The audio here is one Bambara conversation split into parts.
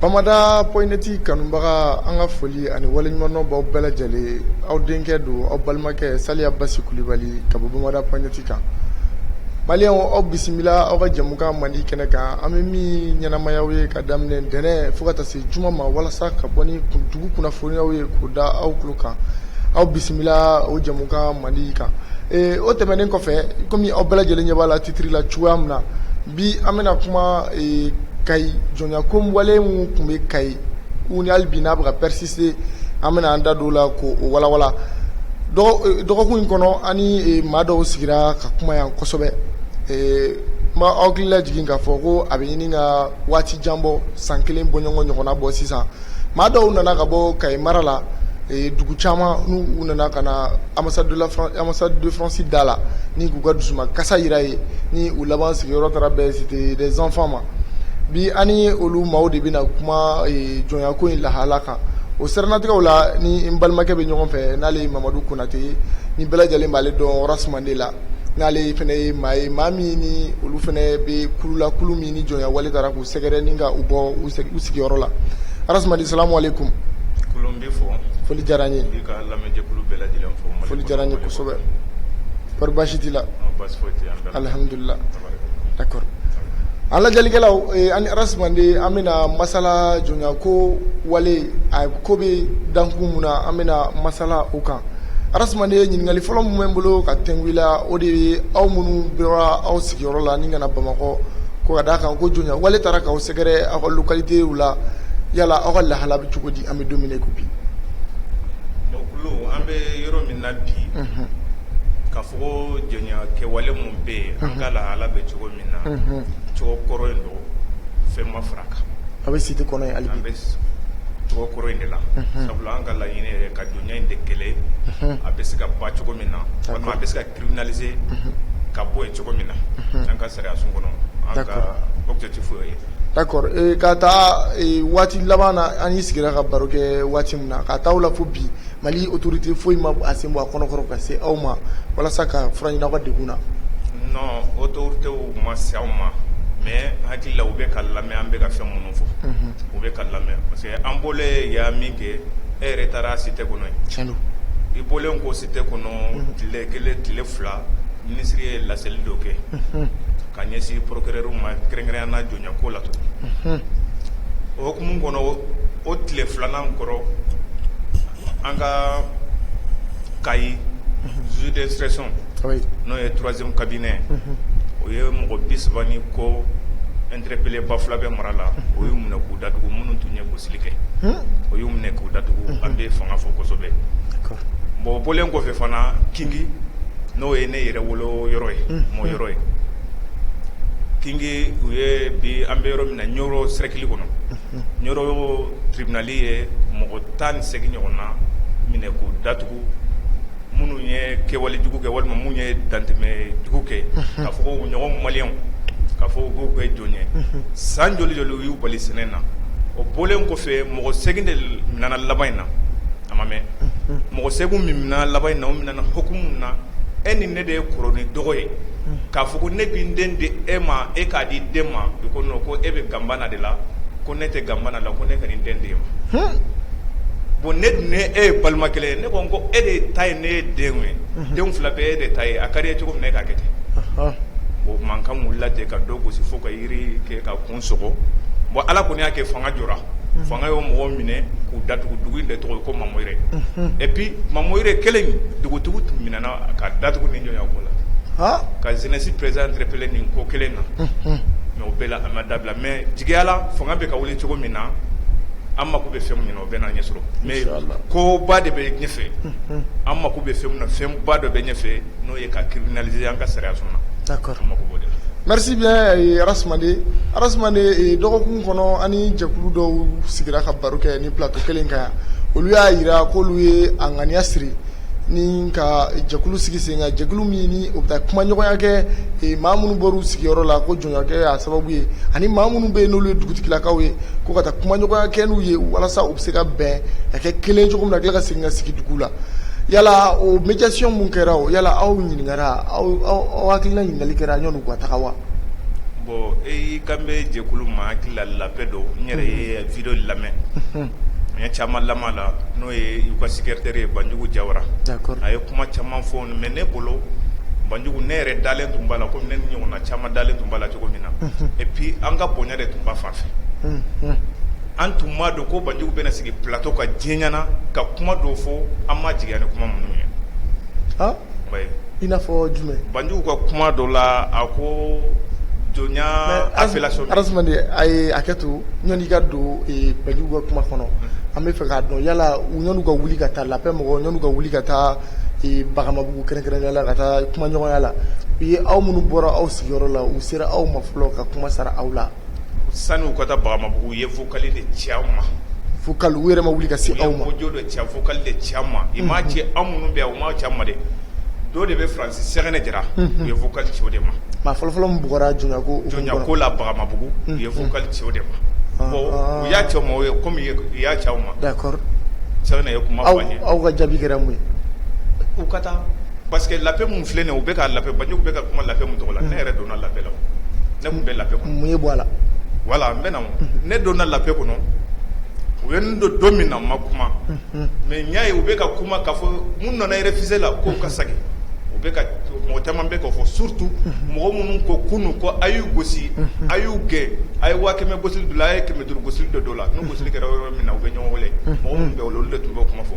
bamada point net kanubaga an ka foli ani waleɲumandɔn b'aw bɛɛ lajɛlen aw denkɛ don aw balimakɛ saliya basi kulubali ka bɔ bamada point net kan maliyɛnw aw bisimila aw ka jɛmukan mandi kɛnɛ kan an bɛ min ɲɛnamaya aw ye ka daminɛ ntɛnɛn fo ka taa se juma ma walasa ka bɔ ni dugu kunnafoniw ye k'u da aw tulo kan aw bisimila o jɛmukan mandi kan o tɛmɛnen kɔfɛ kɔmi aw bɛɛ lajɛlen ɲɛ b'a la titiriri la cogoya min na bi an bɛna kuma kayi jɔnya ko wale minnu tun bɛ kayi u ni hali bi n'a bɛ ka persister an bɛna an da don o la k'o walawala dɔgɔkun in kɔnɔ ani maa dɔw sigira ka kuma yan kosɛbɛ n b'aw hakili lajigin k'a fɔ ko a bɛ ɲini ka waati janbɔ san kelen bɔɲɔgɔn ɲɔgɔnna bɔ sisan Maa dɔw nana ka bɔ kayi mara la dugu caman n'u nana ka na ambassade de france da la ni k'u ka dusukasi jira yen ni u laban sigiyɔrɔ taara bɛn cité des enfants ma bi an ni olu maaw de bɛna kuma jɔnya ko in lahala kan o siranatigɛ la ni n balimakɛ bɛ ɲɔgɔn fɛ n'ale ye mamadu konatɛ ni bɛɛ lajɛlen b'ale dɔn rasmande la n'ale fana ye maa ye maa min ni olu fana bɛ kulu la kulu min ni jɔnya wale taara k'u sɛgɛrɛ ni ka u bɔ u sigiyɔrɔ la rasmande salamu alekum foli diyara n ye foli diyara n ye kosɛbɛ kɔri baasi t'i la alihamdulila d'accord an lajɛlikɛlaw an ni rasmande an bɛna masala jɔnya ko wale a ko bɛ dankun min na an bɛna masala o kan Rasmande ɲininkali fɔlɔ min bɛ n bolo ka tɛmɛ i la o de ye aw minnu bɔra aw sigiyɔrɔ la ni ka na bamakɔ ko ka d'a kan ko jɔnya wale taara k'aw sɛgɛrɛ aw ka localitéw la yala aw ka lahala bɛ cogo di an bɛ don min na ko bi an bɛ yɔrɔ min na bi ka fɔ jɔnya kɛwale minnu bɛ yen an ka lahala bɛ cogo min na cogo kɔrɔ in don fɛn ma fara kan a bɛ cité kɔnɔ yen hali an bi bɛ cogo kɔrɔ in de la sabula an ka laɲini ka ɲɛ in de kɛlɛ a bɛ se ka ban cogo min na walima a bɛ se ka criminaliser ka bɔ yen cogo min na an ka sariya sun kɔnɔ an ka objectif o ye d'accord ka taa waati laban na an n'i sigira ka baro kɛ waati min na ka taa o la fo bi mali autorité foyi ma a sen bɔ a kɔnɔkɔrɔ ka se aw ma walasa ka fura ɲini aw ka degun na non autorité ma se aw ma mais n hakili la u bɛ ka lamɛn an bɛ ka fɛn minnu fɔ u bɛ ka lamɛn parce que an bɔlen yan min kɛ e yɛrɛ taara cité kɔnɔ yen i bɔlen kɔ cité kɔnɔ tile kelen tile fila minisiri ye laseli dɔ kɛ ka ɲɛsin procureurw ma kɛrɛnkɛrɛnya na jɔnya ko la tugun o hukumu kɔnɔ o tile filanan kɔrɔ an ka kayi juge d'instruction n'o ye troisième cabinet o ye mɔgɔ bi saba ni kɔ interpellé ba fila bɛ mara la o y'u minɛ k'u datugu minnu tun ye gosili kɛ o y'u minɛ k'u datugu an bɛ fanga fo kosɛbɛ bon bɔlen kɔfɛ fana Kingi n'o ye ne yɛrɛ wolo yɔrɔ ye mɔ yɔrɔ ye Kingi u ye bi an bɛ yɔrɔ min na Ɲoro cercle kɔnɔ Ɲoro tribunal ye mɔgɔ tan ni segin ɲɔgɔn na minɛ k'u datugu minnu ye kɛwale jugu kɛ walima minnu ye dantɛmɛ jugu kɛ k'a fɔ u ɲɔgɔn maliyɛnw k'a fɔ k'u bɛ kɛ jɔn ye san joli joli u y'u bali sɛnɛ na o bɔlen kɔfɛ mɔgɔ segin de minɛna laban in na a ma mɛn mɔgɔ segin min minɛna laban in na o minɛna hukumu na e ni ne de ye kɔrɔ ni dɔgɔ ye k'a fɔ ko ne bɛ n den di e ma e k'a di i den ma i ko non ko e bɛ ganbana de la ko ne tɛ ganbana la ko ne ka nin den di e ma bon ne dun e ye balima kelen ye ne ko ko e de ta ye ne ye den ye denw fila bɛɛ e de ta ye a ka di e ye cogo min na e k'a kɛ ten o mankan wulila ten ka dɔ gosi fo ka yiri kɛ k'a kun bon ala kɔni y'a kɛ fanga jɔra fanga ye mɔgɔ minɛ k'u datugu dugu de tɔgɔ ye ko Mamoyire et puis Mamoyire kelen dugutigi tun minɛna ka datugu nin jɔn ko la ka jeunesse président interpellé nin ko kelen na mais o bɛɛ la a ma dabila mais jigiya la fanga bɛ ka wuli cogo min na an mako bɛ fɛn min na o bɛna ɲɛ sɔrɔ mais koba de bɛ ɲɛfɛ an mako bɛ fɛn min na fɛnba dɔ bɛ ɲɛfɛ n'o ye ka criminaliser an ka sariyasun na d'accord merci bien Arasmane dɔgɔkun kɔnɔ ani jɛkulu dɔw sigira ka baro kɛ nin plateau kelen kan yan olu y'a yira k'olu ye a ŋaniya siri ni ka jɛkulu sigi sen kan jɛkulu min ni u bɛ taa kumaɲɔgɔnya kɛ maa minnu bɔra u sigiyɔrɔ la ko jɔnko y'a sababu ye ani maa minnu bɛ yen n'olu ye dugutigilakaw ye ko ka taa kumaɲɔgɔnya kɛ n'u ye walasa u bɛ se ka bɛn ka kɛ kelen cogo min na ka tila ka segin ka sigi dugu la yala o médiation min kɛra o yala aw ɲininkara aw hakilina ɲininkali kɛra yanni u ka taga wa? bon i kan bɛ jɛkulu ma n hakili la la paix don n yɛrɛ ye video lamɛn n ye caman lamɛn a la n'o ye u ka secretaire ye Banjugu Jawara d'accord a ye kuma caman fɔ mais ne bolo Banjugu ne yɛrɛ dalen tun b'a la komi ne ni ɲɔgɔnna caman dalen tun b'a la cogo min na et puis an ka bonya de tun b'a fan fɛ An tun m'a dɔn ko banjugu bɛ sigi plateau kan diɲɛ ɲɛna ka kuma dɔw fɔ an ma sigi ni kuma minnu ye i n'a fɔ jumɛn banjugu ka kuma dɔ la a ko jɔnya a ye hakɛ to yanni ka don banjugu ka kuma kɔnɔ an bɛ fɛ k'a dɔn yala yanni u ka wuli ka taa la paix mɔgɔw ka wuli ka taa Bagamabugu kɛrɛnkɛrɛn la ka taa kumaɲɔgɔnya la u ye aw minnu bɔra aw sigiyɔrɔ la u sera aw ma fɔlɔ ka kuma sara aw la sani u ka taa Bagamabugu u ye vocal de ci aw ma vocal u yɛrɛ ma wuli ka se aw ma audio de ci vocal de ci an ma i m'a ci anw minnu bɛ yan u m'a ci an ma dɛ dɔw de bɛ faransi Sɛgɛnɛ Jara u ye vocal ci o de ma maa fɔlɔfɔlɔ min bugɔra jɔnya ko la Bagamabugu u ye vocal ci o de ma bon u y'a ci aw ma kɔmi u y'a ci aw ma d'accord Sɛgɛnɛ ye kuma aw ka jaabi kɛra mun ye u ka taa Parce que l'appel min filɛ nin ye u bɛ ka l'appel Banjugu bɛ ka kuma l'appel min tɔgɔ la ne yɛrɛ donna l'appel la ne tun bɛ l'appel kɔnɔ mun ye bɔ a la voilà n bɛna ne donna l'appel kɔnɔ u ye n don don min na n ma kuma mais n y'a ye u bɛ ka kuma k'a fɔ minnu nana réfugié la ko ka segin u bɛ mɔgɔ caman bɛ k'a fɔ surtout mɔgɔ minnu ko kunun ko a y'u gosi a y'u gɛn a ye waa kɛmɛ gosili dɔ la a ye kɛmɛ duuru gosili dɔ don la N'u gosili kɛra yɔrɔ min na u bɛ ɲɔgɔn wele, unhun, mɔgɔ minnu bɛ yen olu de tun b'o kuma fɔ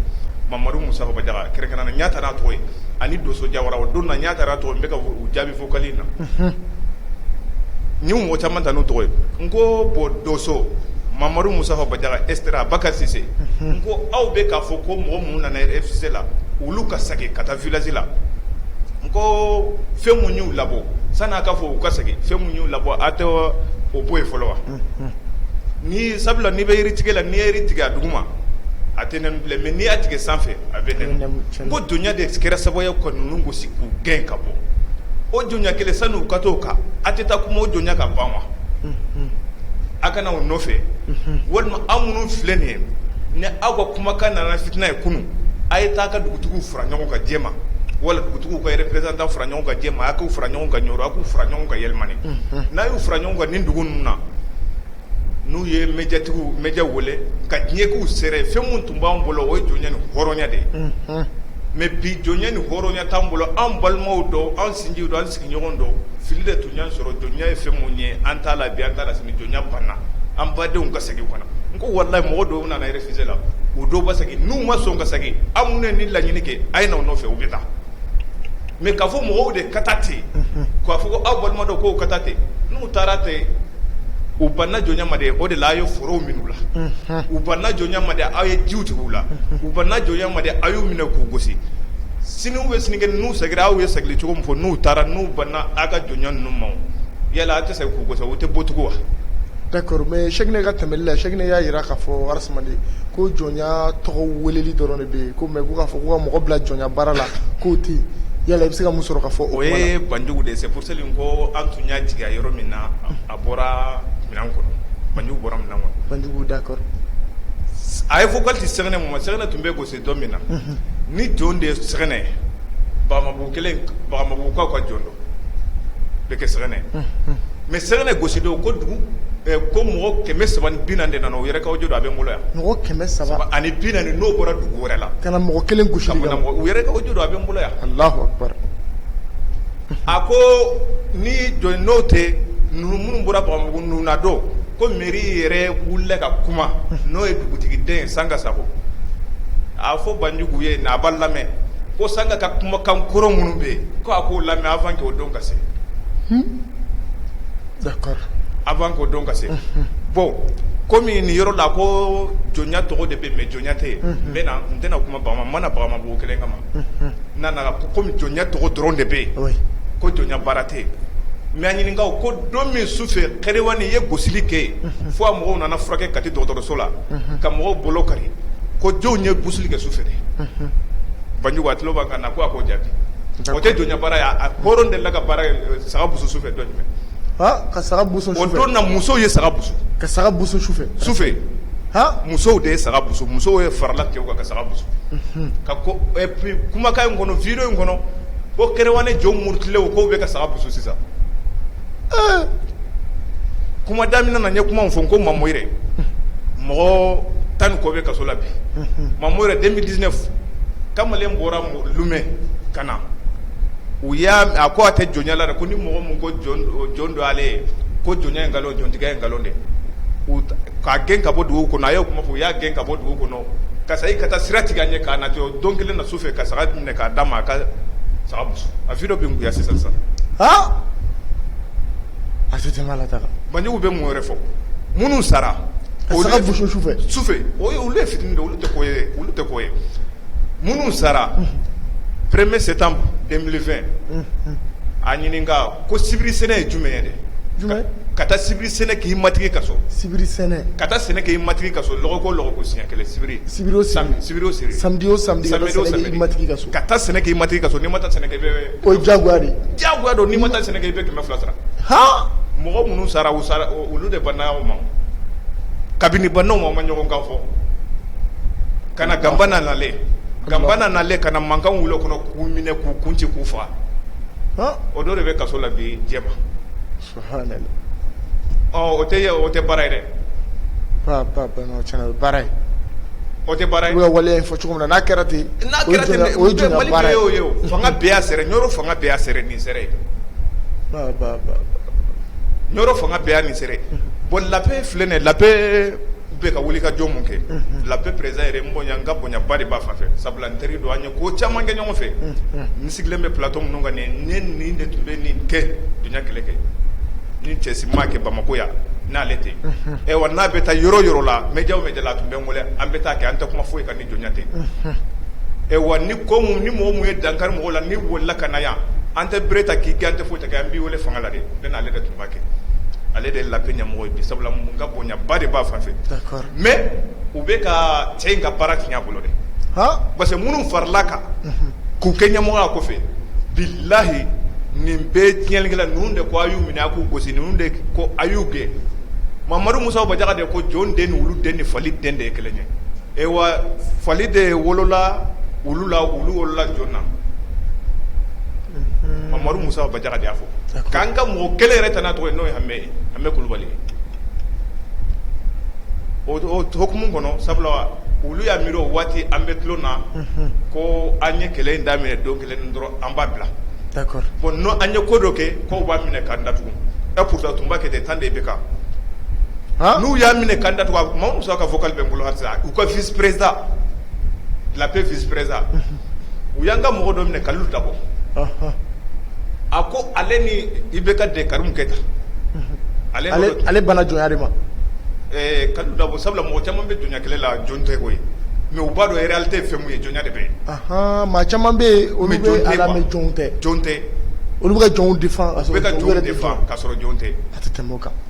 Mamadu Musa Bajaga kɛrɛnkɛrɛnnen n y'a ta n'a tɔgɔ ye ani Donso Jawara o don na n y'a ta n'a tɔgɔ ye n bɛ ka u jaabi vocal in na, unhun, n ye mɔgɔ caman ta n'u tɔgɔ ye n ko bon Donso, Mamadu Musa Bajaga etc Bakari Sise n ko aw bɛ k'a fɔ ko mɔgɔ minnu nana réfugié la olu ka segin ka taa village la n ko fɛn minnu y'u labɔ sani aw k'a fɔ u ka segin fɛn minnu y'u labɔ aw tɛ o bɔ yen fɔlɔ wa Ni sabula n'i bɛ yiri tigɛ la n'i ye yiri tigɛ a duguma a tɛ n bilen mais n'i y'a tigɛ sanfɛ a bɛ n ko jɔnya de kɛra sababu ye ka ninnu gosi k'u gɛn ka bɔ o jɔnya kelen sani u ka t'o kan a tɛ taa kuma o jɔnya ka ban wa a ka na o nɔfɛ walima aw minnu filɛ nin ye ni aw ka kumakan nana fitinɛ ye kunun a ye taa ka dugutigiw fara ɲɔgɔn kan Jɛma wala dugutigiw ka représentant fara ɲɔgɔn kan Jɛma a k'u fara ɲɔgɔn kan Ɲɔrɔ a k'u fara ɲɔgɔn kan Yelimani n'a y'u fara ɲɔgɔn kan nin dugu ninnu na n'u ye médiatigiw médiaw wele ka diɲɛ k'u seere fɛn minnu tun b'an bolo o ye jɔnya ni hɔrɔnya de ye mais bi jɔnya ni hɔrɔnya t'an bolo an balimaw don an sinjiw don an sigi ɲɔgɔn don fili de tun y'an sɔrɔ jɔnya ye fɛn min ye an t'a la bi an t'a la sini jɔnya banna an badenw ka segin u ka na n ko walayi mɔgɔ dɔw nana réfugié la u dɔw ba segin n'u ma sɔn ka segin aw minnu ye nin laɲini kɛ a ye na o nɔfɛ u bɛ taa mais k'a fɔ mɔgɔw de ka taa ten k'a fɔ ko aw balima don k'u ka taa ten n'u taara ten u banna jɔnya ma de o de la a ye forow minɛ u la u banna jɔnya ma de aw ye jiw tigɛ u la u banna jɔnya ma de aw y'u minɛ k'u gosi sini ou sinikɛnɛ n'u seginna aw ye segin cogo min fɔ n'u taara n'u banna aw ka jɔnya ninnu ma yala aw tɛ segin k'u gosi u tɛ bugɔ tugun wa d'accord mais Sɛgɛnɛ ka tɛmɛli la Sɛgɛnɛ y'a jira k'a fɔ Arasmane ko jɔnya tɔgɔ weleli dɔrɔn de bɛ yen ko mais k'a fɔ ko ka mɔgɔ bila jɔnya baara la k'o tɛ yen yala i bɛ se ka mun sɔrɔ k'a fɔ o ye banjugu de c'est pour cela ko an tun y'a jigi yɔrɔ min na a bɔra minɛn kɔnɔ banjugu bɔra minɛn kɔnɔ banjugu d'accord a ye vocal ci Sɛgɛnɛ ma Sɛgɛnɛ tun bɛ gosi Don min na ni jɔn de ye sɛgɛnɛ Bagamabugukaw ka jɔn dɔ bɛ kɛ sɛgɛnɛ mɛ sɛgɛnɛ gosi don ko dugu ko mɔgɔ kɛmɛ saba bi naani de nana u yɛrɛ ka audio a bɛ n bolo yan mɔgɔ kɛmɛ saba ani bi naani n'o bɔra dugu wɛrɛ la ka na mɔgɔ kelen gosi u yɛrɛ ka audio a bɛ n bolo yan A ko ni jɔn n'o tɛ ninnu minnu bɔra Bagamabugu ninnu na don ko mɛri yɛrɛ wulila ka kuma n'o ye dugutigi den ye Sanga Sakɔ a fɔ banjugu ye n'a b'a lamɛn ko Sanga ka kumakan kɔrɔ minnu bɛ yen ko a k'o lamɛn avant que o don ka se avant que o don ka se bɔn kɔmi nin yɔrɔ la ko jɔnya tɔgɔ de bɛ mɛ jɔnya tɛ yen n n tɛna kuma ma na Bagamabugu kelen kama n nana ko kɔmi jɔnya tɔgɔ dɔrɔn de bɛ yen ko jɔnya baara tɛ yen mɛ a ɲininka ko don min su fɛ Kɛrɛwani ye gosili kɛ yen fo a mɔgɔw nana furakɛ kati dɔgɔtɔrɔso la ka mɔgɔw bolo kari ko jɔnw ye busuli kɛ su fɛ de banjugu a tulo b'an kan na ko a k'o jaabi o tɛ jɔnya baara ye a hɔrɔn delila ka baara saga busu su fɛ don jumɛn ka saga busu o don na musow ye saga busu ka saga busu sufɛ sufɛ musow de ye saga busu musow ye farala cɛw kan ka saga busu et puis kumakan in kɔnɔ video in kɔnɔ ko Kɛrɛwani jɔn murutilenw k'u bɛ ka saga busu sisan kuma daminɛ na n ye kuma min fɔ ko Mamoyire mɔgɔ tan ni kɔ bɛ kaso la bi Mamoyire deux mille dix-neuf kamalen bɔra Lumɛ ka na u y'a a ko a tɛ jɔnya la dɛ, ko ni mɔgɔ min ko jɔn don ale ye, ko jɔnya ye nkalon ye, jɔntigiya ye nkalon ye, k'a gɛn ka bɔ dugu kɔnɔ, a y'o kuma fɔ, u y'a gɛn ka bɔ dugu kɔnɔ, ka segin ka taa sira tigɛ a ɲɛ k'a nati, o don kelen na su fɛ ka saga minɛ k'a d'a ma, a ka saga busu a video bɛ n kun yan sisan sisan, han A se tɛ la taga banjugu bɛ mun wɛrɛ fɔ minnu sara o ka saga busu sufɛ o olu ye fitini de olu tɛ olu tɛ ko ye minnu sara premier septembre deux mille vingt a ɲininka ko sibiri sɛnɛ ye jumɛn dɛ ka taa sibiri sɛnɛ k'i matigi ka so sibiri sɛnɛ ka taa sɛnɛ k'i matigi ka so lɔgɔkun o lɔgɔkun siɲɛ kelen sibiri o sibiri samedi o samedi k'i matigi ka so ka taa sɛnɛ k'i matigi ka so n'i ma taa sɛnɛ kɛ i bɛ O ye jagoya de ye, jagoya don n'i ma taa sɛnɛ kɛ i bɛ kɛmɛ fila sara, han, mɔgɔ minnu sara u sara olu de banna o ma, kabini banna o ma u ma ɲɔgɔn kan fɔ, ka na Ganbana nalen, Ganbana nalen ka na mankan wuli o kɔnɔ k'u minɛ k'u kun ci k'u faga, han, o dɔ de bɛ kaso la bi Jɛma O tɛ o tɛ baara ye dɛ baara o tɛ baara wale fɔ cogo min n'a kɛra ten n'a kɛra fanga bɛɛ y'a seere Ɲɔrɔ fanga bɛɛ y'a seere nin seere Ɲɔrɔ fanga bɛɛ y'a nin seere bon La Paix filɛ nin La Paix bɛ ka wuli ka jɔ min kɛ La Paix président yɛrɛ n bonya n ka bonyaba de b'a fan fɛ sabula N teri don an ye ko caman kɛ ɲɔgɔn fɛ n sigilen bɛ plateau minnu kan ne nin de tun bɛ nin kɛ jɔnya kɛlɛ kɛ ni cɛ si m'a kɛ Bamakɔ yan n'ale tɛ ɛ wa n'a bɛ taa yɔrɔ yɔrɔ la média média la a tun bɛ n wele an bɛ taa kɛ an tɛ kuma foyi kan ni jɔnya tɛ ɛ wa ni ko min ni mɔgɔ min ye dankari mɔgɔw la n'i wulila ka na yan an tɛ bere ta k'i gɛn an tɛ foyi ta kɛ an b'i weele fanga la de bɛ n'ale de tun b'a kɛ ale de ye La Paix ɲɛmɔgɔ ye sabula n ka bonyaba de b'a fan fɛ Mais u bɛ ka cɛ in ka baara tiɲɛ a bolo dɛ parce que minnu farala a kan k'u kɛ ɲɛmɔgɔya kɔfɛ bilayi nin bɛɛ tiɲɛlikɛla ninnu de ko a y'u minɛ a k'u gosi ninnu de ko a y'u gɛn Mamadu Musa Bajaga de ko jɔn den ni wulu den ni fali den de ye kelen ye wa fali de wolola wulu la wulu wolola jɔn na Mamadu Musa Bajaga de y'a fɔ k'an ka mɔgɔ kelen yɛrɛ ta n'a tɔgɔ ye n'o ye Hamɛ Hamɛ Kulubali ye o hukumu kɔnɔ sabula olu y'a miiri o waati an bɛ tulon na ko an ye kɛlɛ in daminɛ don kelen dɔrɔn an b'a bila bon n'an ye ko dɔ kɛ k'u b'an minɛ k'an datugu et pourtant tun b'a kɛ ten tan de bɛ kan n'u y'an minɛ k'an datugu Mamadu Musa ka vocal bɛ n bolo halisa u ka vice-président La Paix vice-président u y'an ka mɔgɔ dɔ minɛ Kalilu Dabo a ko ale ni IBK den Karimu Keyita ale banna jɔnya de ma Kalilu Dabo sabula mɔgɔ caman bɛ jɔnya kɛlɛ la jɔn tɛ koyi mais u b'a dɔn réalité fɛn min ye jɔnya de bɛ maa caman bɛ yen olu b'a la mais jɔn tɛ olu bɛ ka jɔnw défendre ka sɔrɔ jɔn tɛ a tɛ tɛmɛ kan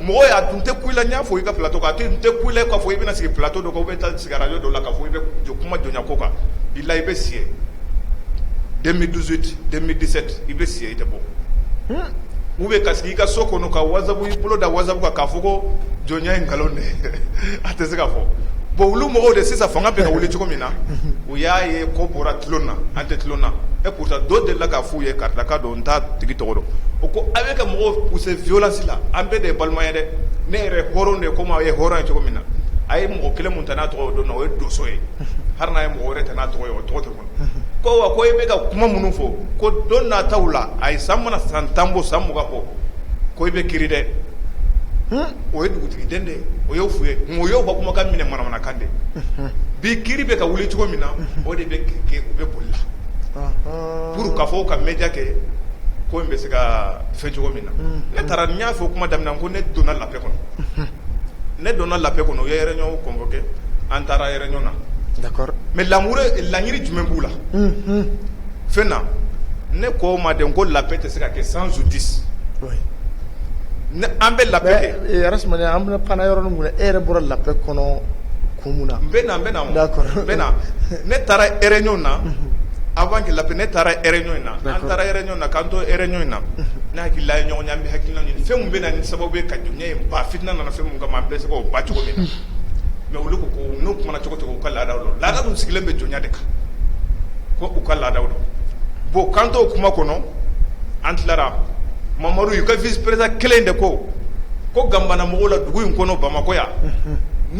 mɔgɔ y'a tun tɛ kun i la n y'a fɔ i ka plateau kan a tun tɛ kun i la k'a fɔ i bɛna sigi plateau dɔ kan ou bien taa sigi radio dɔ la k'a fɔ i bɛ jɔ kuma jɔnya ko kan bilayi i bɛ si deux mille dix-huit deux mille dix-sept i bɛ si i tɛ bɔ ou bien ka sigi i ka so kɔnɔ ka WhatsApp i bolo da WhatsApp kan k'a fɔ ko jɔnya ye nkalon de a tɛ se ka fɔ bon olu mɔgɔw de sisan fanga bɛ ka wuli cogo min na u y'a ye ko bɔra tulon na an tɛ tulon na et pourtant dɔ delila k'a fɔ k'u ye karisa ka don n t'a tigi tɔgɔ dɔn o ko a bɛ ka mɔgɔw pousser violence la an bɛɛ de ye balima ye dɛ ne yɛrɛ ye hɔrɔn de ye comme aw ye hɔrɔn ye cogo min na a ye mɔgɔ kelen min ta n'a tɔgɔ ye o don na o ye donso ye hali n'a ye mɔgɔ wɛrɛ ta n'a tɔgɔ ye o tɔgɔ tɛ fɔ ko wa ko e bɛ ka kuma minnu fɔ ko don nataw la ayi san mana san tan bɔ san mugan bɔ ko i bɛ kiiri dɛ o ye dugutigiden de ye o y'o f'u ye nka o y'o ka kumakan minɛ manamanakan de ye bi kiiri bɛ ka wuli cogo min na o de bɛ kɛ u bɛ boli la. Pour k'a fɔ ka média kɛ ko in bɛ se ka fɛn cogo min na ne taara n y'a fɔ o kuma daminɛ ko ne donna la paix kɔnɔ ne donna la paix kɔnɔ u ye réunion convoqué an taara réunion na d'accord mais laɲini jumɛn b'u la fɛn na ne k'u ma dɛ ko la paix tɛ se ka kɛ sans justice an bɛ la paix an bɛ pan yɔrɔ min e yɛrɛ bɔra la paix kɔnɔ kun mun na n na ne taara réunion na Avant que la paix ne taara réunion in na an taara réunion na k'an to réunion in na ne hakili la ɲɔgɔn an bɛ hakilila ɲini fɛn min bɛ na ni sababu ye ka jɔnya in ban fitinɛ nana fɛn min kama an bɛ se k'o ban cogo min na mais olu ko n'u kumana cogo cogo u ka laada don laada dun sigilen bɛ jɔnya de kan ko u ka laadaw don bon k'an to kuma kɔnɔ an tilara mamari u ka vice président kelen de ko ko Gambana mɔgɔw la dugu in kɔnɔ Bamakɔ yan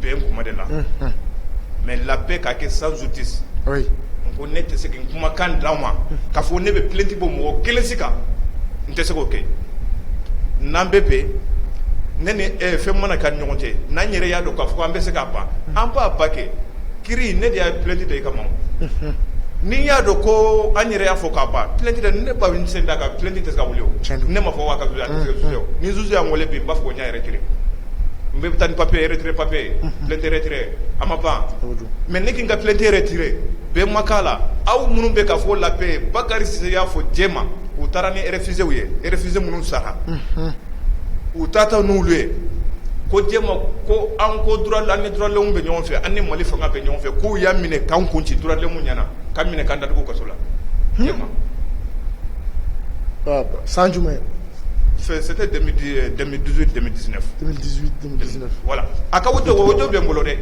bɛn kuma de la mais la paix ka kɛ sans justice n ko ne tɛ se ka n kumakan d'aw ma k'a fɔ ne bɛ plainte bɔ mɔgɔ kelen si kan n tɛ se k'o kɛ n'an bɛ bɛn ne ni fɛn mana kɛ ɲɔgɔn cɛ n'an yɛrɛ y'a dɔn k'a fɔ an bɛ se k'a ban an b'a ban kɛ kiri ne de y'a plainte da i kama ni n y'a dɔn ko an yɛrɛ y'a fɔ k'a ban plainte da ne ba bɛ sen da kan plainte tɛ se ka wuli ne ma fɔ ka ni juge y'an wele bi n b'a fɔ n y'a retirer n bɛ taa ni papier retrait papier ye plainte retrait a ma ban mais ne ka n ka plainte retirer bɛn ma k'a la aw minnu bɛ k'a fɔ la paix Bakari Sise y'a fɔ Jɛma u taara ni réfugiés ye réfugiés minnu sara u taatɔ n'olu ye ko Jɛma ko an ko droit de l'homme an ni droit de l'homme bɛ ɲɔgɔn fɛ an ni Mali fanga bɛ ɲɔgɔn fɛ k'u y'an minɛ k'an kun ci droit de l'homme ɲɛna k'an minɛ k'an datugu kaso la Jɛma san jumɛn Wala a ka to o bɛ n bolo dɛ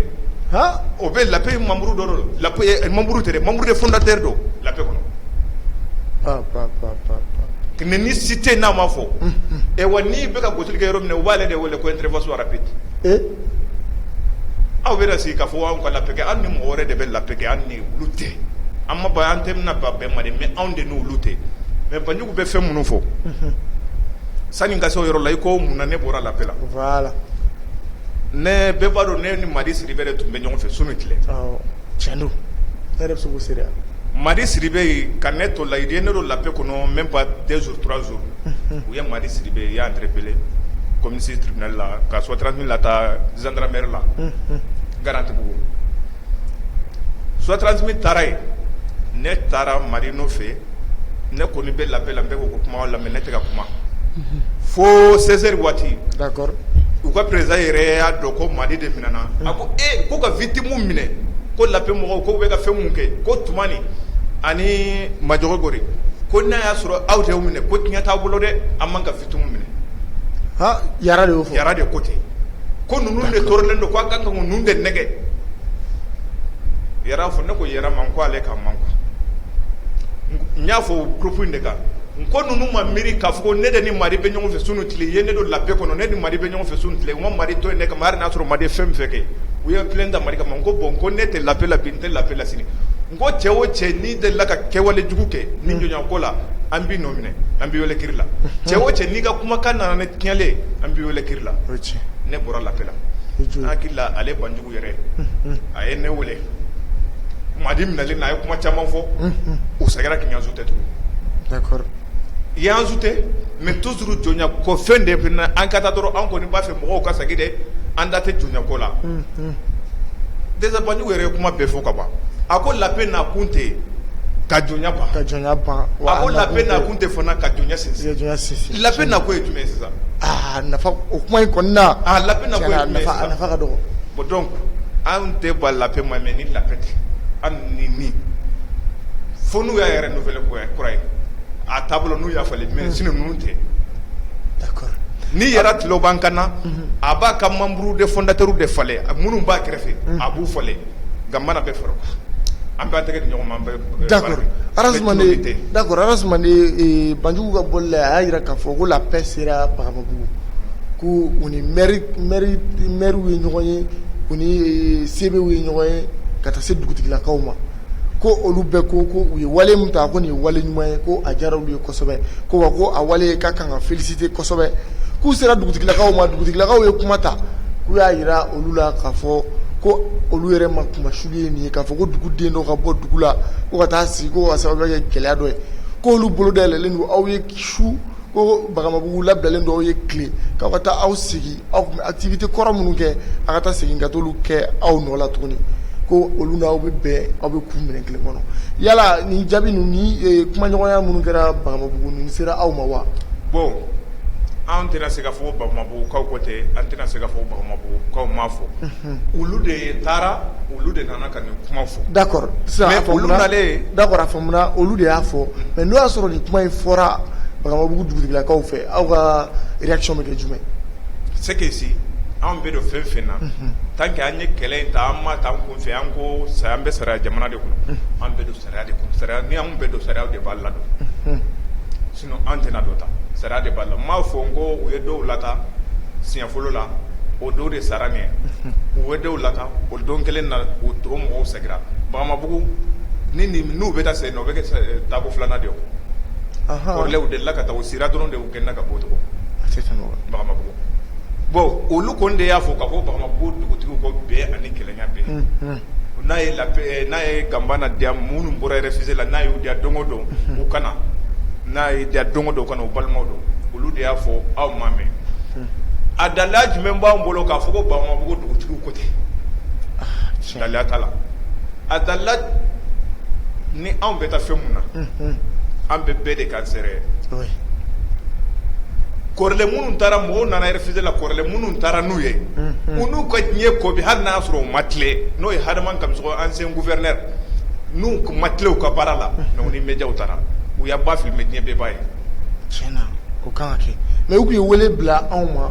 o bɛ layi mamuru dɔ donuru tɛ mamuru de fda tɛ don la kɔnɔ ni si tɛ n'a ma fɔ ɛ wa n' bɛka ka gosi kɛ yɔrɔ min u b'aale de wele ko n teri sɔrɔ bi aw bɛ sigi ka fɔ anw ka la kɛ an ni mɔgɔ wɛrɛ de bɛ la kɛ an ni tɛ an ma an tɛ bɛn mande anw de n' tɛ U bɛ fɛn minnu fɔ sanu ka yɔrɔ la i ko mun ne bɔra lala ne bɛɛ b'a dɔn ne ni madi siri bɛ de tun bɛ ɲɔgɔn fɛ so min tile cɛn madi siri bɛ yen ka ne to layi ne don la kɔnɔ mɛ ba denmusorazo u ye madi siri bɛ yan yɛrɛb kɔmimisiina la ka sɔt min la taa zdraɛrɛ la garantibugu sutranti taara yen ne taara mari n' fɛ ne kɔni bɛ la paix la n bɛ k'o kuma lamɛn ne tɛ ka kuma fo seize heures waati u ka président yɛrɛ y'a dɔn ko madi de minɛna a ko e ko ka victime minɛ ko la paix mɔgɔw ko u bɛ ka fɛn mun kɛ ko tumani ani majɔgɔ gori ko n'a y'a sɔrɔ aw de y'u minɛ ko tiɲɛ t'aw bolo dɛ an man ka victime minɛ yara de ko ten ko ninnu de tɔɔrɔlen don ko a ka kan ka ninnu de nɛgɛ fɔ ne ko yara ma ko ale ka man n y'a fɔ groupe in de kan n ko ninnu ma miiri k'a fɔ ne de ni madi bɛ ɲɔgɔn fɛ su ni tile ye ne don la paix kɔnɔ ne ni madi bɛ ɲɔgɔn fɛ su ni tile n ko madi to ne kama hali n'a sɔrɔ madi ye fɛn fɛn kɛ u ye plainte da madi kama ko bon ko ne tɛ la paix la bi n tɛ la paix la sini n ko cɛ o cɛ n'i delila ka kɛwale jugu kɛ nin jɔnyako la an b'i nɔ minɛ an b'i wele kiri la cɛ o cɛ n'i ka kumakan nana ne tiɲɛlen an b'i wele kiri la ne bɔra la paix la n hakili la ale banjugu yɛrɛ a ye ne weele madi minɛlen na a ye kuma caman fɔ u seginna k'i ajouter tugun i y'an ajouter mais toujours jɔnya ko fɛn de an ka taa dɔrɔn an kɔni b'a fɛ mɔgɔw ka segin dɛ an da tɛ jɔnyako la déjà banjugu yɛrɛ ye kuma bɛɛ fɔ ka ban a ko la paix nakun tɛ yen ka jɔnya ban ka jɔnya ban a ko la paix nakun tɛ fana ka jɔnya sinsin la paix nakun ye jumɛn sisan a nafa o kuma in kɔni na la paix nafa ka dɔgɔ bon donc an tɛ ban la paix ma mais ni la paix tɛ an ni min fo n'u y'a yɛrɛ renouveler kura ye a taabolo n'u y'a falen mais sinon ninnu tɛ ni yara tulo b'an kan na a b'a ka membre de fondateur de falen minnu b'a kɛrɛfɛ a b'u falen gambana bɛ fara o kan an b'an tɛgɛ di ɲɔgɔn ma an bɛ d'accord arazumane banjugu ka bɔli la a y'a jira k'a fɔ ko la paix sera bagamabugu ko u ni maire ye ɲɔgɔn ye u ni CB ye ɲɔgɔn ye ka taa se dugutigilakaw ma ko olu bɛɛ ko ko u ye wale min ta ko nin ye wale ɲuman ye ko a diyara olu ye kosɛbɛ ko wa ko a wale ka kan ka féliciter kosɛbɛ k'u sera dugutigilakaw ma dugutigilakaw ye kuma ta k'u y'a jira olu la k'a fɔ ko olu yɛrɛ ma kuma su K'a fɔ ko duguden dɔ ka bɔ dugu la ka taa sigi ko ka sababu kɛ gɛlɛya dɔ ye ko olu bolo dayɛlɛlen don aw ye su ko bagamabugu labilalen don aw ye tile k'aw ka taa aw sigi aw tun bɛ activité kɔrɔ minnu kɛ aw ka taa segin ka t'olu kɛ aw nɔ la tuguni ko olu n'aw bɛ bɛn aw bɛ kun minɛn kelen kɔnɔ yala nin jaabi ninnu ni kumaɲɔgɔnya minnu kɛra bagamabugu nin sera aw ma wa bon an tɛna se k'a fɔ bagamabugukaw ko tɛ an tɛna se k'a fɔ bagamabugukaw ma fɔ Olu de taara olu de nana ka nin kuma fɔ d'accord a faamuna olu de y'a fɔ mais n'o y'a sɔrɔ nin kuma in fɔra Bagamabugu dugutigilakaw fɛ aw ka réaction bɛ kɛ jumɛn c'est que si anw bɛ don fɛn fɛn na tant que an ye kɛlɛ in ta an m'a ta kun fɛ an ko an bɛ sariya jamana de kɔnɔ an bɛ don sariya de sariya ni anw bɛ don sariya de b'a la don An tɛna dɔ ta sariya de b'a la m'a fɔ n ko u ye dɔw lata siɲɛ fɔlɔ la o dɔw de sara n'u ye dɔw lata o don kelen na u to mɔgɔw seginna Bagamabugu ni n'u bɛ taa se o bɛ kɛ taako filanan de kɔrɔlɛ de la ka taa u sira dɔrɔn de u gɛnna ka bɔ Bagamabugu bon olu kɔni de y'a fɔ k'a fɔ Bagamabugu dugutigiw ko bɛn ani kelenya bɛn n'a ye n'a ye Ganbana diya minnu bɔra réfugié la n'a y'u diya don o don u ka na n'a ye diya don o don u ka na u balimaw don olu de y'a fɔ aw m'a mɛn a dalila jumɛn b'an bolo k'a fɔ ko Bagamabugu dugutigi ko ten dalila t'a la a dalila ni anw bɛ taa fɛn mun na an bɛ bɛɛ de kan sɛrɛ kɔrɔlen minnu taara mɔgɔw nana réfugié la kɔrɔlen minnu taara n'u ye u n'u ka diɲɛ ko bi hali n'a y'a sɔrɔ u ma tilen n'o ye Adama Kamisɔgɔ ancien gouverneur n'u tun ma tilen u ka baara la mais u ni médiaw taara u b'a filmer diɲɛ bɛɛ b'a ye tiɲɛna o kan ka kɛ mais u tun ye wele bila anw ma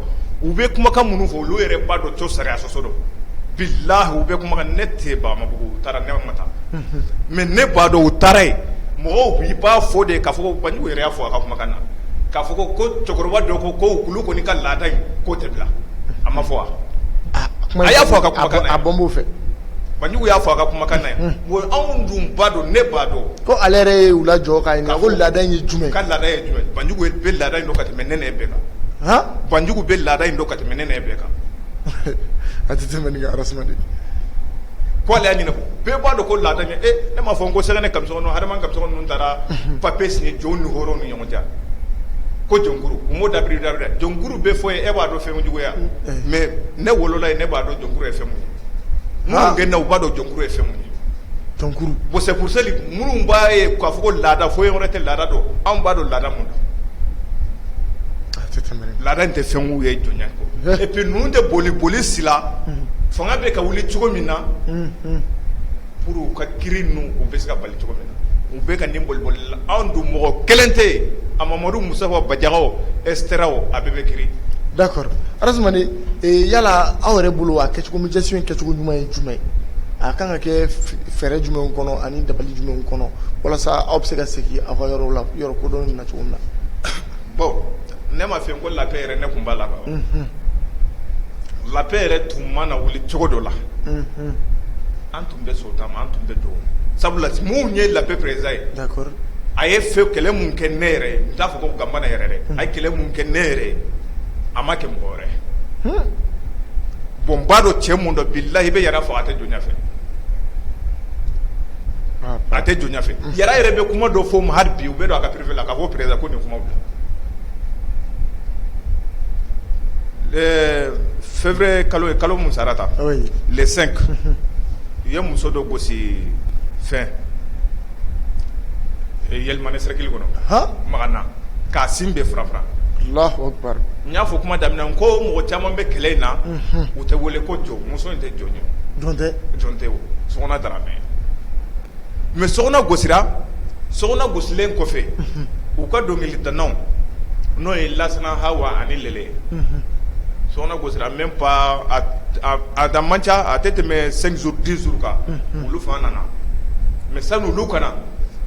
u bɛ kumakan minnu fɔ olu yɛrɛ b'a dɔn ko sariya sɔsɔ don bilahi u bɛ kumakan ne tɛ Bagamabugu u taara ne ma taa mais ne b'a dɔn u taara yen mɔgɔw i b'a fɔ de k'a fɔ ko Banjugu yɛrɛ y'a fɔ a ka kumakan na k'a fɔ ko ko cɛkɔrɔba dɔ ko ko k'olu kɔni ka laada in k'o tɛ bila a m'a fɔ wa a y'a fɔ a ka a bɔ' fɛ Banjugu y'a fɔ a ka kumakan na yan bon anw dun b'a dɔn ne b'a dɔn ko ale yɛrɛ y'u lajɔ k'u ɲininka ko laada in ye jumɛn ye, ka laada ye jumɛn ye Banjugu bɛ laada in dɔn ka tɛmɛ ne n'e bɛɛ kan, han, Banjugu bɛ laada in dɔn ka tɛmɛ ne n'e bɛɛ kan, a tɛ tɛmɛ nin kan arasana dɛ, ko ale y'a ɲinin ko bɛɛ b'a dɔn ko laada in e ne m'a fɔ ko Sɛgɛnɛ Kamisɔgɔ Adama Kamisɔgɔ ninnu taara papier signer jɔnw ni hɔrɔnw ni ɲɔgɔn cɛ wa, ko jɔnkuru u m'o dabirida dɛ, jɔnkuru bɛ fɔ yen e b'a dɔn fɛn jugu ye wa mais ne wolola yen ne b'a dɔn jɔnkuru ye fɛn min ye gɛnna u b'a dɔn jɔnkuru ye fɛn min ye jɔnkuru bon c'est pour ça minnu b'a ye k'a fɔ ko laada foyi wɛrɛ tɛ laada don anw b'a dɔn laada min don laada in tɛ fɛn ye jɔnya kɔ et puis ninnu tɛ boli boli si la fanga bɛ ka wuli cogo min na Pour u ka kiri ninnu u bɛ se ka bali cogo min na u bɛ ka nin boliboli la anw dun mɔgɔ kelen tɛ yen a mamadu musa Bajaga o et cetera o a bɛɛ bɛ kiri d'accord Arazumane yala aw yɛrɛ bolo a kɛcogo min gestion in kɛcogo ɲuman ye jumɛn ye a kan ka kɛ fɛɛrɛ jumɛn kɔnɔ ani dabali jumɛn kɔnɔ walasa aw bɛ se ka segin aw ka yɔrɔ la yɔrɔ kodɔn na cogo min na bon ne ma fɛ ko la paix yɛrɛ ne tun b'a la la paix yɛrɛ tun ma na wuli cogo dɔ la an tun bɛ so taama an tun bɛ don sabula min ye la paix président ye a ye fɛn kɛlɛ min kɛ ne yɛrɛ n t'a fɔ ko Gambana yɛrɛ dɛ a ye kɛlɛ min kɛ ne yɛrɛ a ma kɛ mɔgɔ wɛrɛ bon n b'a dɔn cɛ min don bilahi i bɛ Yara fɔ a tɛ jɔnya fɛ a tɛ jɔnya fɛ Yara yɛrɛ bɛ kuma dɔ fɔ ma hali bi u bɛ don a ka privé la k'a fɔ président ko nin kuma Ɛɛ février kalo ye kalo min sara ta le cinq u ye muso dɔ gosi fɛn Yelimane sɛrɛkili kɔnɔ Magana k'a sin bɛɛ farafara Allahu akbar n y'a fɔ kuma daminɛ n ko mɔgɔ caman bɛ kɛlɛ in na u tɛ wele ko jɔn muso in tɛ jɔn ye jɔn tɛ jɔn tɛ o Sokona Daramɛ mɛ Sokona gosira Sokona gosilen kɔfɛ u ka dɔnkilidanaw n'o ye Lasana Hawa ani Lele Sokona gosira même pas a da man ca a tɛ tɛmɛ cinq jours dix jours kan olu fana nana mɛ sani olu ka na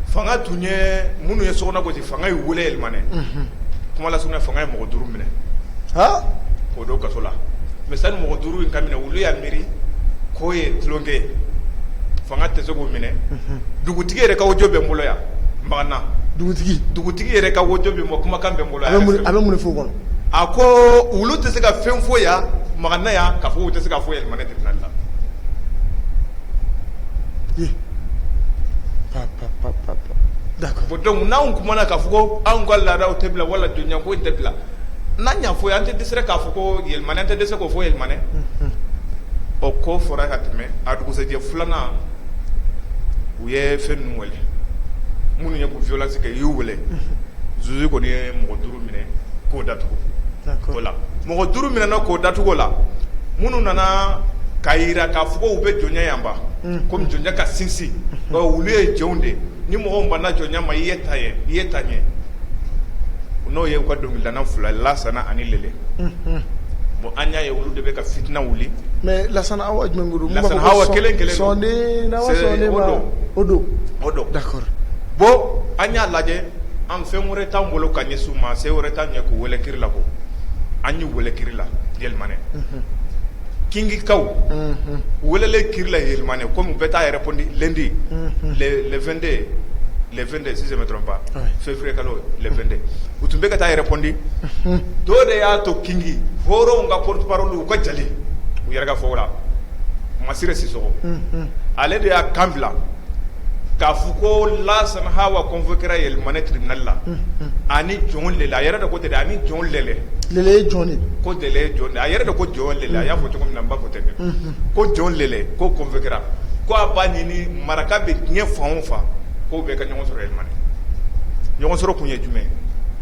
fanga tun ye minnu ye Sokona gosi fanga y'u weele Yelimane kuma lase fanga ye mɔgɔ duuru minɛ k'o don kaso la mɛ sani mɔgɔ duuru in ka minɛ olu y'a miiri k'o ye tulonkɛ ye fanga tɛ se k'o minɛ dugutigi yɛrɛ ka audio bɛ n bolo yan Magana dugutigi dugutigi yɛrɛ ka audio bɛ n bolo kumakan bɛ n bolo a bɛ mun fɔ o kɔnɔ a ko olu tɛ se ka fɛn fɔ yan Magana yan k'a fɔ u tɛ se k'a fɔ Yelimane tribunal la Dɔnku n'an kumana k'a fɔ ko anw ka laadaw tɛ bila wala jɔnya ko tɛ bila n'an y'a fɔ an tɛ dɛsɛ k'a fɔ ko Yelimane an tɛ dɛsɛ k'o fɔ Yelimane o ko fɔra ka tɛmɛ a dugusɛjɛ filanan u ye fɛn ninnu weele minnu ye ko violence kɛ u y'u weele zuzu kɔni ye mɔgɔ duuru minɛ k'o datugu o la mɔgɔ duuru minɛna k'o datugu o la minnu nana k'a jira k'a fɔ ko u bɛ jɔnya yanba kɔmi jɔnya ka sinsin olu ye jɔnw de ni mɔgɔ banna jɔnya ma i ye ta ye i ye ta ɲɛ n'o ye u ka dɔnkilidana fila lasana ani Lele bon an y'a ye olu de bɛ ka fitina wuli mɛ Lasana Hawa jumɛn don Lasana Hawa kelen kelen o don o don d'accord bɔn an y'a lajɛ an fɛn wɛrɛ t'an bolo ka ɲɛsin u ma se wɛrɛ t'an ɲɛ k'u wele kiri la ko an y'u wele kiri la Yelimane kingikaw welelen kila yɛlɛmamani ko bɛ taa yɛrɛ di lɛnde lɛnde si dɔrɔnba fɛnfɛere ka lɛnde u tun bɛ ka taa yɛrɛpdi do de y'a to kin hɔrɔnw ka poro u ka ja u yɛrɛ fɔ la masiri si ale de y'a kan bila k'a fɔ ko lasana h wa kofɔ kɛra yɛlɛmani tiridali la jɔn de la a yɛrɛ de ko tɛ a ni jɔn lajɛ ye jɔn de ko de jɔn a yɛrɛ de ko jɔn de la a y'a fɔ cogo min na ba ko tɛ ko jɔn de ko kɔnfe kɛra ko a b'a ɲini maraka bɛ diɲɛ fan faa ko bɛɛ ka ɲɔgɔn sɔrɔ yɛlɛma ɲɔgɔn sɔrɔ tun ye jumɛn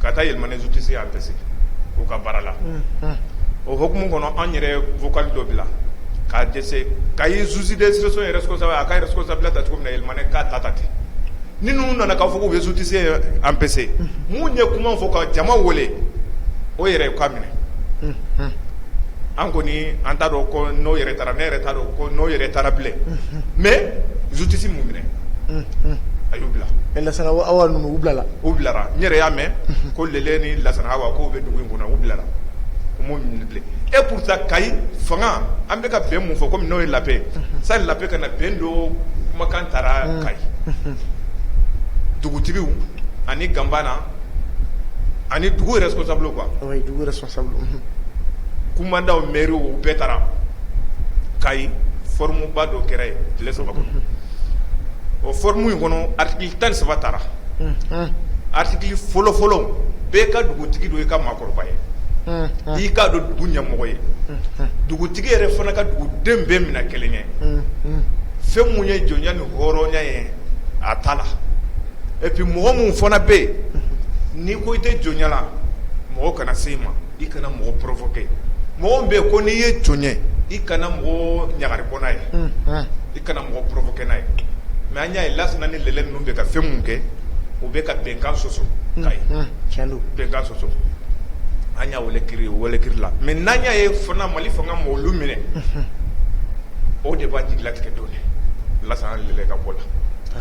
ka taa yɛlɛma su tɛ se an tɛ se k'u ka baara la o hkumu kɔnɔ an yɛrɛ fɔka dɔ bila k'a dɛsɛ ka ye zusi dɛsɛsirire sɔrɔ a ka yɛrɛ sɔsa bila ta cogo min na yɛlɛma k'a ta ta ten ni ninnu nana k'a fɔ k'u bɛ justice empêcher minnu ye kuma fɔ ka jama wele o yɛrɛ ka minɛ an kɔni an t'a dɔn ko n'o yɛrɛ taara ne yɛrɛ t'a dɔn ko n'o yɛrɛ taara bilen mais justice m'u minɛ a y'u bila lasana hawa ninnu u bilala u bilara n yɛrɛ y'a mɛn ko lele ni lasana hawa k'u bɛ dugu in kɔnɔ u bilara u m'u minɛ bilen et pourtant kayi fanga an bɛ ka bɛn mun fɔ kɔmi n'o ye la paix sani la paix ka na bɛn dɔ kumakan taara kayi dugutigiw ani gambana ani dugu responsable quoi kumandanw mairew o bɛɛ taara kayi forumba dɔ kɛra yen tile saba kɔnɔ o forum in kɔnɔ article tan ni saba tara article fɔlɔfɔlɔ bɛɛ ka dugutigi dɔn i ka ma kɔrɔba ye i k'a dɔn dugu ɲɛmɔgɔ ye dugutigi yɛrɛ fana ka duguden bɛɛ minɛ kelen ye fɛn minnu ye jɔnya ni hɔrɔnya ye a ta la et puis mɔgɔ minnu fana bɛ yen n'i ko i tɛ jɔnya la mɔgɔ kana se i ma i kana mɔgɔ provoquer mɔgɔ min bɛ yen ko n'i ye jɔn ye i kana mɔgɔ ɲagari bɔ n'a ye i kana mɔgɔ provoquer n'a ye mais an y'a ye lasana ni lele ninnu bɛ ka fɛn minnu kɛ o bɛ ka bɛnkan sɔsɔ kayi tiɲɛ don bɛnkan sɔsɔ an y'a wele kiri wele kiri la mais n'an y'a ye fana mali fanga ma olu minɛ o de b'an jigilatigɛ dɔɔnin lasana ni lele ka bɔ la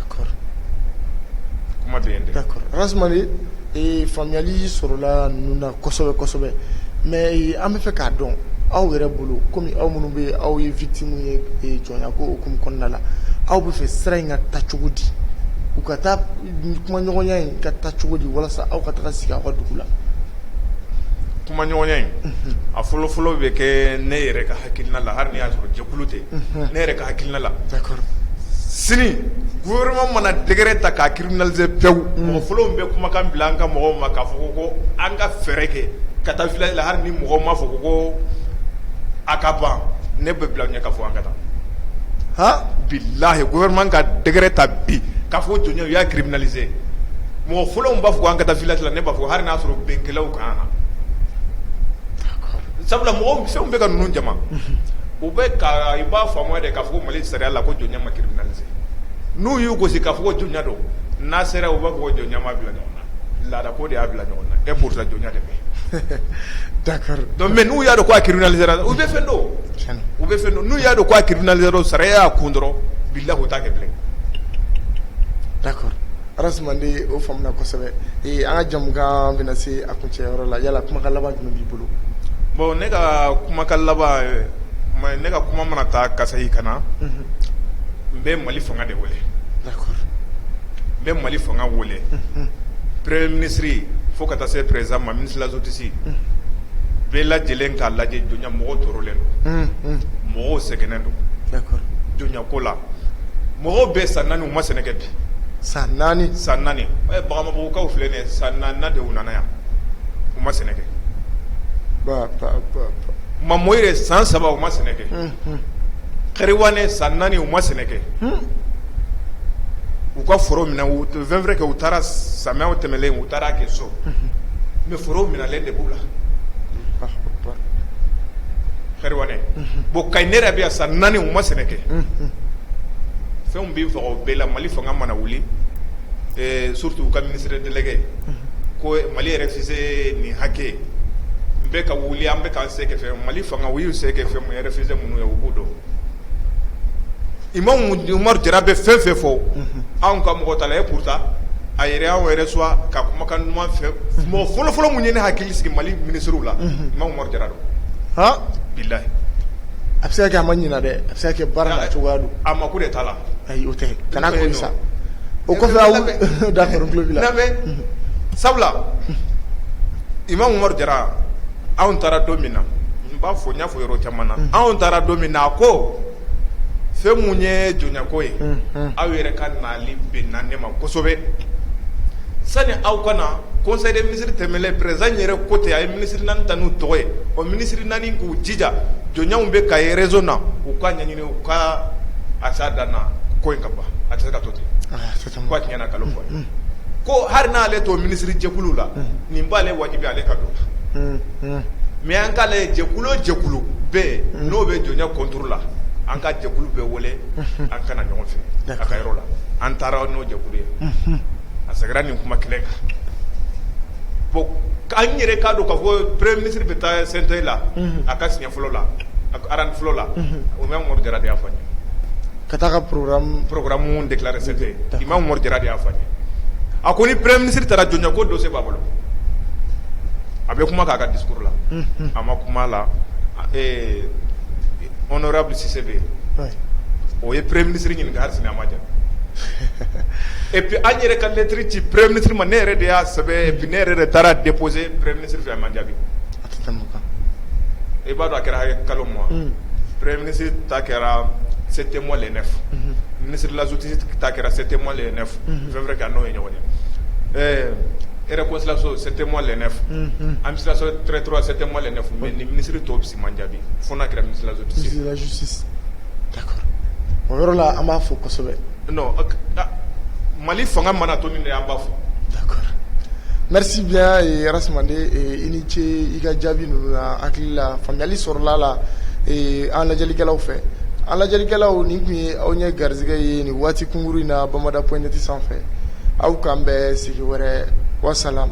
kuma bɛ yen dɛ rasmani ee faamuyali sɔrɔla ninnu na kosɛbɛ kosɛbɛ mais an bɛ fɛ k'a dɔn aw yɛrɛ bolo kɔmi aw minnu bɛ aw ye victime ye Jɔnya ko hukumu kɔnɔna la aw bɛ fɛ sira in ka taa cogo di u ka taa kumaɲɔgɔnya in ka taa cogo di walasa aw ka taa sigi aw ka dugu la kumaɲɔgɔnya in a fɔlɔfɔlɔ bɛ kɛ ne yɛrɛ ka hakilina la hali n'i y'a sɔrɔ jɛkulu tɛ ne yɛrɛ ka hakilina la sini gouvernement mana décret ta k'a criminaliser pewu mɔgɔ fɔlɔ bɛ kumakan bila an ka mɔgɔw ma k'a fɔ ko ko an ka fɛɛrɛ kɛ ka taa village la hali ni mɔgɔ ma fɔ ko ko a ka ban ne bɛ bila ɲɛ k'a fɔ an ka taa bilayi gouvernement ka décret ta bi k'a fɔ jɔnya u y'a criminaliser mɔgɔ fɔlɔ b'a fɔ ko an ka taa village la ne b'a fɔ hali n'a sɔrɔ binkɛlaw kan na sabula mɔgɔ fɛnw bɛ ka ninnu jama u bɛ i b'a faamuya de k'a fɔ ko mali sariya la ko jɔnya ma criminaliser n'u y'u gosi k'a fɔ ko jɔnya don n'a sera u b'a fɔ ko jɔnya m'a bila ɲɔgɔn na laada ko de y'a bila ɲɔgɔn na et pourtant jɔnya de bɛ d'accord donc mais n'u y'a dɔn ko a criminaliser u bɛ fɛn dɔn u bɛ fɛn dɔn n'u y'a dɔn ko a criminaliser dɔrɔn sariya y'a kɔn dɔrɔn bilayi u t'a kɛ bilen d'accord Arasumandi o faamuna kosɛbɛ ee an ka jɛmukan bɛna se a kuncɛyɔrɔ la yala kumakan laban jumɛn b'i bolo bon ne ka kumakan laban ne ka kuma mana taa ka sayi ka na n bɛ mali fanga de wele n bɛ mali fanga wele premier ministre fo ka taa se président ma ministre de la justice bɛɛ lajɛlen k'a lajɛ jɔnya mɔgɔw tɔɔrɔlen don mɔgɔw sɛgɛnnen don jɔnyako la mɔgɔw bɛ san naani u ma sɛnɛ kɛ bi san naani san naani Bagamabugukaw filɛ nin san naani de u nana yan u ma sɛnɛ kɛ Mamoyire san saba u ma sɛnɛ Kɛriwane san naani u ma sɛnɛ kɛ u ka foro minɛ c'est vrai que u taara samiyaw tɛmɛlen u taara kɛ so mais foro minɛlen de b'u la Kɛriwane bon Kayinɛra bɛ yan san naani u ma sɛnɛ kɛ fɛn bɛ fɔ bɛɛ la mali fanga mana wuli surtout u ka ministre délégué ko mali réfugié nin hakɛ n bɛ ka wuli an bɛ Mali fanga u y'u se kɛ fɛn réfugié minnu ye u b'u dɔn imam Umaru Jara bɛ fɛn fɛn fɔ anw ka mɔgɔ t'a la et pourtant a yɛrɛ anw yɛrɛ soit ka kumakan ɲuman fɛ mɔgɔ fɔlɔfɔlɔ min ye ne hakili sigi mali ministrew la imam Umaru Jara don bilayi a bɛ se ka kɛ a ma ɲina dɛ a bɛ se ka kɛ baara la cogoya don a mako de t'a la ayi o kana sa o kɔfɛ d'accord sabula imam Umaru Jara anw taara don min na n b'a fɔ n y'a fɔ yɔrɔ caman na anw taara don min na a ko fɛn min ye jɔnyako ye aw yɛrɛ ka nali bɛnna ne ma kosɛbɛ sani aw ka na conseil des ministres tɛmɛlen président yɛrɛ ko ten a ye minisiri naani ta n'u tɔgɔ ye o minisiriri naani k'u jija jɔnya min bɛ Kayi région na u k'a ɲɛɲini u ka a s'a dan na ko in ka ban a tɛ se ka to ten tɛ kana nkalon fɔ dɛ, ko hali n'ale t'o minisirijɛkulu la nin b'ale wajibi ale ka don o mais an k'a lajɛ jɛkulu o jɛkulu bɛ yen n'o bɛ jɔnya contre la an ka jɛkulu bɛɛ wele an ka na ɲɔgɔn fɛ a ka yɔrɔ la an taara n'o jɛkulu ye a seginna nin kuma kelen kan bon k'an yɛrɛ k'a dɔn k'a fɔ premier ministre bɛ taa CNT. la a ka siɲɛ Fɔlɔla a ko ara fɔlɔla Imam Umaru Jara de y'a fɔ n ye ka taa ka programme déclaré CNT Imam Umaru Jara de y'a fɔ n ye a ko ni premier ministre taara jɔnya ko dossier b'a bolo a bɛ kuma k'a ka discours la a ma kuma la eee honorable Cissé bɛ yen o ye premier ministre ɲininka hali sini a ma jaabi et puis an yɛrɛ ka lettre ci premier ministre ma ne yɛrɛ de y'a sɛbɛn et puis ne yɛrɛ de taara déposer premier ministre fɛ a ma jaabi i b'a dɔn a kɛra hakɛ kalo ma pere minisi ta kɛra se tɛ mɔ ne fo minisiri lasoti ta kɛra se tɛ mɔ ne fo fɛn wɛrɛ ka n'o ye ɲɔgɔn ɛɛ e kosilaso se tɛ mɔ ne fo an bɛsiratoura se tɛ mɔ ne fo mɛ ni minisiriri tɔ bisimila man jaabi fo n'a kɛra misilasu o yɔrɔ la an b'a fɔ kosɛbɛ mali fanga mana to nin de an b'a fɔ d'accord merci bien Arasumandi i ni ce i ka jaabi ninnu na hakili la faamuyali sɔrɔla a la an lajɛlikɛlaw fɛ an lajɛlikɛlaw nin tun ye aw ye garisɛgɛ ye nin waati kunkurun in na Bamada.net sanfɛ aw k'an bɛn sigi wɛrɛ wasalam